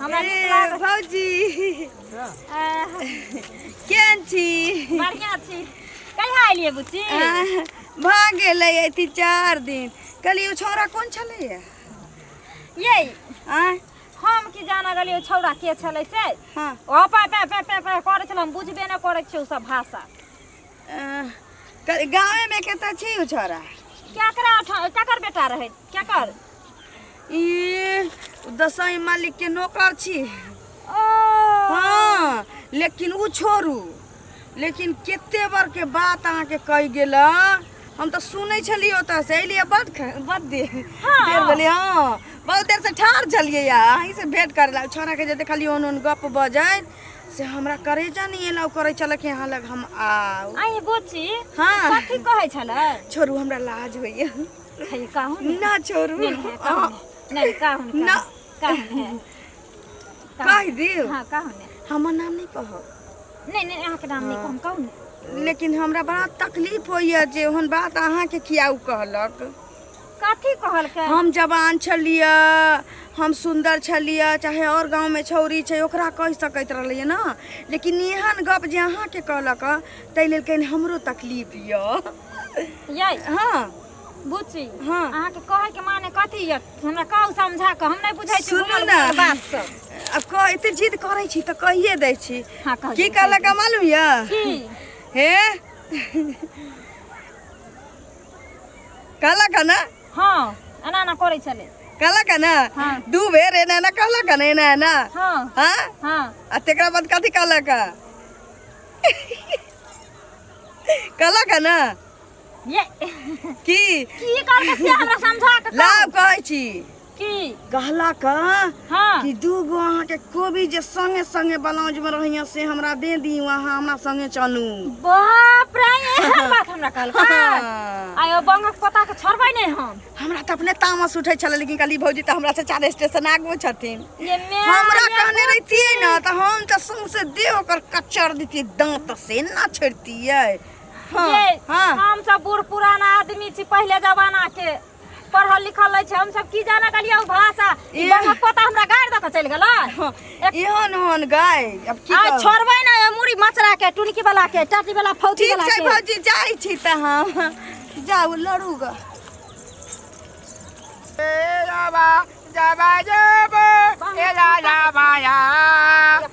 हमरा नीक ए, लागल भौजी आह, केहन छी बढ़िया छी कहिया एलियै बुच्ची आह, भऽ गेलै अथी चार दिन कहलियै ओ छौड़ा कोन छलैया ये आँय हम की जान गेलियै छौड़ा के छलै से हँ ओ पा पा पा पा पा करै छलै हम बुझबे नहि करै छियै ओ सब भाषा गाँवे में केते छी उ छोरा केकरा उठा- केकर बेटा रहे केकर ई दसई मालिक के नौकर छी ओ हाँ लेकिन उ छोड़ू लेकिन केते बार के बात अहाँ के कही गेल हम तो सुनै छलियै ओतऽ से एलियै बड ख- बड देर देर भेलै हाँ बहुत देर से ठाढ़ छलियै अहीं से भेंट करला छोरा के जे देखलियै ओन ओन गप बजैत से हमरा करेजा नहीं एलाउ करे चलक यहाँ लग हम आउ आई बोची हाँ। कथी कहै छल छोरू हमरा लाज होइए खाली कहू ने ना छोरू नहीं है, कहू अहाँ ने। नहीं कहू ने, ना। कहू कहू ने। कहू कह ने। देव हाँ कहू ने हमर नाम नहीं कहो नहीं नहीं अहाँ के नाम नहीं कहू कहू ने लेकिन हमरा बड़ा तकलीफ होइए जे ओहन बात अहाँके किया उ कहलक कथी कहलकै हम जवान छलिए हम सुन्दर छलिए चाहे और गाँव में छौरी छै ओकरा कह सकैत रहलिए ना लेकिन एहन गप जे अहाँ के कहलक तै लेल कहीं हमरो तकलीफ यो ये हाँ बुची हाँ। अहाँ के कहे के माने कथी ये हमरा कहू समझा के हम नहीं बुझै छी सुनू घुमल ना। घुमल बात सब अब कह एते जिद करै छी तऽ कहिए दै छी हाँ, कह की दियौ, कहलक मालूम यऽ की हे कहलक है ना हाँ एना एना करे चले कहलक है ना हाँ। दू बेर एना एना कहलक है ना एना एना हाँ हाँ हाँ आ तेकरा बाद कथी कहलक है कहलक है ना ये की की करके से हमरा समझा के लाभ कहै छी कि कहलक हाँ। कि दू गो अहाँ के कोबी जे संगे संगे ब्लाउज में रहिया से हमरा दे दी अहाँ हमरा संगे चलू बाप रे एहन बात हमरा कहल हाँ। आयो बंगक पता के छोड़बै नै हम हमरा त अपने तामस उठै छल लेकिन कहली भौजी त हमरा से चार स्टेशन आगू छथिन ये मैं हमरा कहने रहतियै न त हम त सौंसे देह ओकर कचर देतियै दांत से ना छोड़तियै हाँ ये हाँ हम सब बूढ़ पुरान आदमी छी पहले जमाना के पढ़ल लिखल लै छै हम सब की जाना गलिया ओ भाषा ई ई- बाबा पोता हमरा गाड़ दऽ के चलि गेलै इहन हन गाय अब की आइ कहब? छोड़बै ना ए मुड़ी मचरा के टुनकी वाला के टाटी वाला फौजी ठीक वाला छै के भौजी जाइ छी तऽ हम जाउ लड़ू ग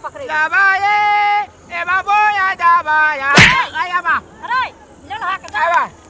पकड़े अरे लड़हा के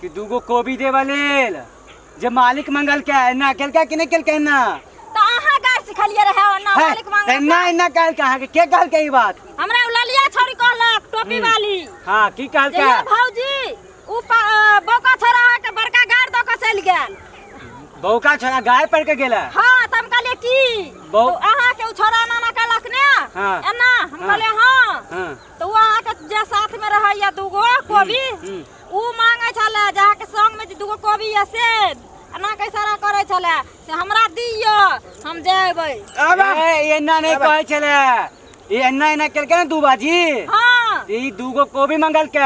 कि दूगो कोबी देबा लेल जे मालिक मंगल के एना केलका कि नहीं केलका एना तो अहाँ गाय सिखलिए रहे और ना है, मालिक मांगल एना एना कहल कहाँ के के कहल के ई बात हमरा उ ललिया छोरी कहलक टोपी वाली हाँ की कहल जे का ये भौजी उ प- अ, बौका छोरा अहाँ के बड़का गाड़ दऽ कऽ चलि गेल बहू का छोरा गाय पड़ के गेला हाँ तब कहलिए की बौ- तो अहाँ के उ छोरा एना एना कहलक ने हाँ। एना हम हाँ। कहलिए हाँ हाँ तो उ अहाँ के जे साथ में रहैया दूगो कोबी हम्म। ओ मांगे छले जे अहाँके संग में जे दूगो कोबी ये से एना के इशारा करे छले से हमरा दियो हम जेबै ए, एना नहीं कहे छले ई एना एना केलके ना दू बाजी हाँ ई दूगो कोबी मंगल के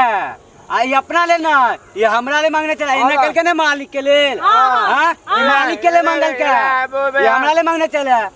आ ई अपना ले ना ई हमरा ले मांगने चला एना हाँ। केलके ना मालिक के लेल हाँ। हाँ? ई मालिक के ले मंगल के ई हमरा ले मांगने चला